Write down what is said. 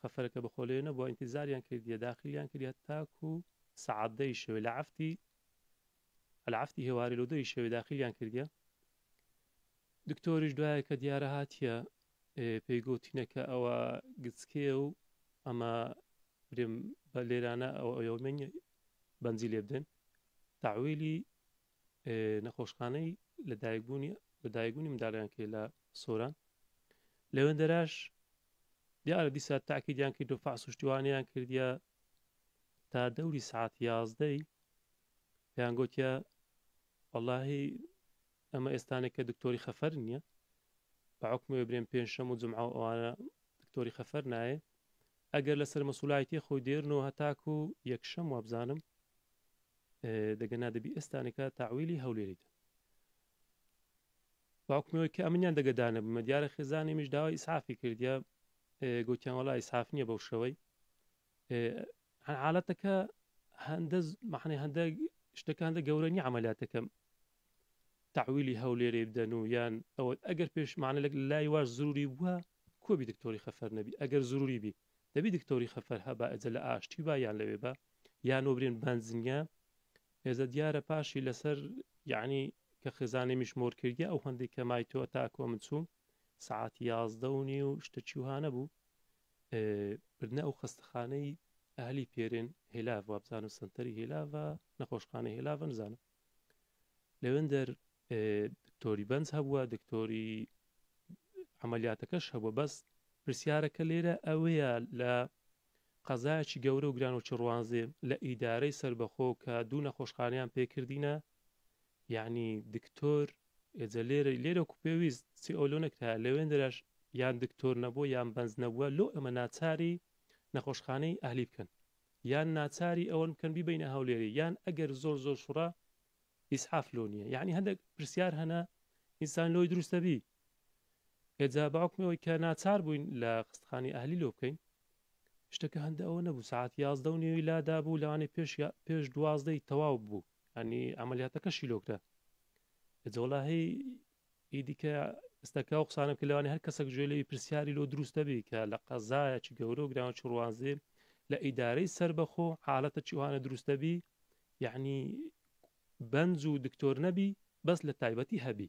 خەفەرەکە بەخۆ لێ نەبووە ئینتیزاریان کردیە داخلیان کردیە تاکو سەعات دەی شەوێ لە عەفتی العفتی هێوارێ لۆ دەی شەوێ داخلیان کردیە دکتۆریش دوایە کە دیارە هاتیە پێی گوتینە کە ئەوە گچکێ و ئەمە برێم بە لێرانە ئەو ئەومەنی بەنجی لێ بدەن تاویلی نەخۆشخانەی لەدایکبوونی لەدایکبوونی منداڵیان کرد لە سۆران لەوێندەراش دیارە دیسا تاکیدیان کرد و فاس شتوانیان کردیا تا دەوری سعات یازدەی پێیان گوتیا واللهی ئەمە ئێستانێک کە دکتۆری خەفەر نییە بەعکمێ برێن پێنجشەم و جمعە و ئەوانە دکتۆری خەفەر نایە ئەگەر لەسەر مەسولایەتی خۆی دێرن و هەتاکو یەکشەم وابزانم دەگە نا دەبی ئێستانەکە تاویلی هەولێری دە باوکمەوەی کە ئەمنیان دەگەدانە بمە دیارە خێزانانی مش داوای ئیسعافی کردیا گوتیان وڵی ئیسعاف نییە بەو شەوەی حالەتەکە هەندە مەحنەی هەندە شتەکان دە گەورەنی عملیاتەکەم تاویلی هەولێرێ بدەن و یان ئەوە ئەگەر پێشمانە لە لای واش زوری بووە کۆبی دکتۆری خەفەر نەبی ئەگەر زوری بی دەبی دکتۆری خەفەر هە با ئێجە لە ئاشتی با یان لەوێ با یان وەبرێن بەنزنیە ئێجە دیارە پاشی لەسەر یعنی کە خێزانێ میش مۆر کردیە ئەو هەندێک کە مای تۆ تا کۆ من چووم سەعاتی یازدە و نیو شتە چیوها نەبوو بردنە ئەو خەستەخانەی ئەهلی پێرێن هێلاڤ وابزانم سنتەری هێلاڤە نەخۆشخانە هێلاڤە نزانم لەوێندەر دکتۆری بەنج هەبووە دکتۆری عملیاتەکەش هەبووە بەس پرسیارەکە لێرە ئەوەیە لە قەزایەکی گەورە و گران و چڕوانزێ لە ئیدارەی سربەخۆ کە دوو نەخۆشخانیان پێکردینە یعنی دکتۆر ئێجە لێرە لێرە و پێویست چی ئەو لۆ نەکرا لەوێن دەراش یان دکتۆر نەبوو یان بەنج نەبووە لۆ ئەمە ناچاری نەخۆشخانەی ئەهلی بکەن یان ناچاری ئەوەن بکەن بیبەینە هەولێری یان ئەگەر زۆر زۆر شڕە ئیسعاف لۆ نیە یانی هەندەک پرسیار هەنە ئینسان لۆی دروستە بی ئێجا بەعکمی ئەوەی کە ناچار بووین لە خستخانی ئەهلی لۆ بکەین شتەکە هەندە ئەوە نەبوو سعات یازدە و نیوی لادا بوو لەوانی پێش پێش دوازدەی تەواو بوو ینی ئەعملیاتەکەشی لۆکرا جۆڵاهی ئیدی کە ئستەکە ئەو قسانە بکە لەوانی هەر کەسەک گوێ لێوی پرسیاری لۆ دروست دەبی کە لە قەزایە چ گەورە و گراوە چ ڕوانزێ لە ئیدارەی سەربەخۆ حالەتە چی وانە دروست دەبی یعنی بەنج و دکتۆر نەبی بەس لە تایبەتی هەبی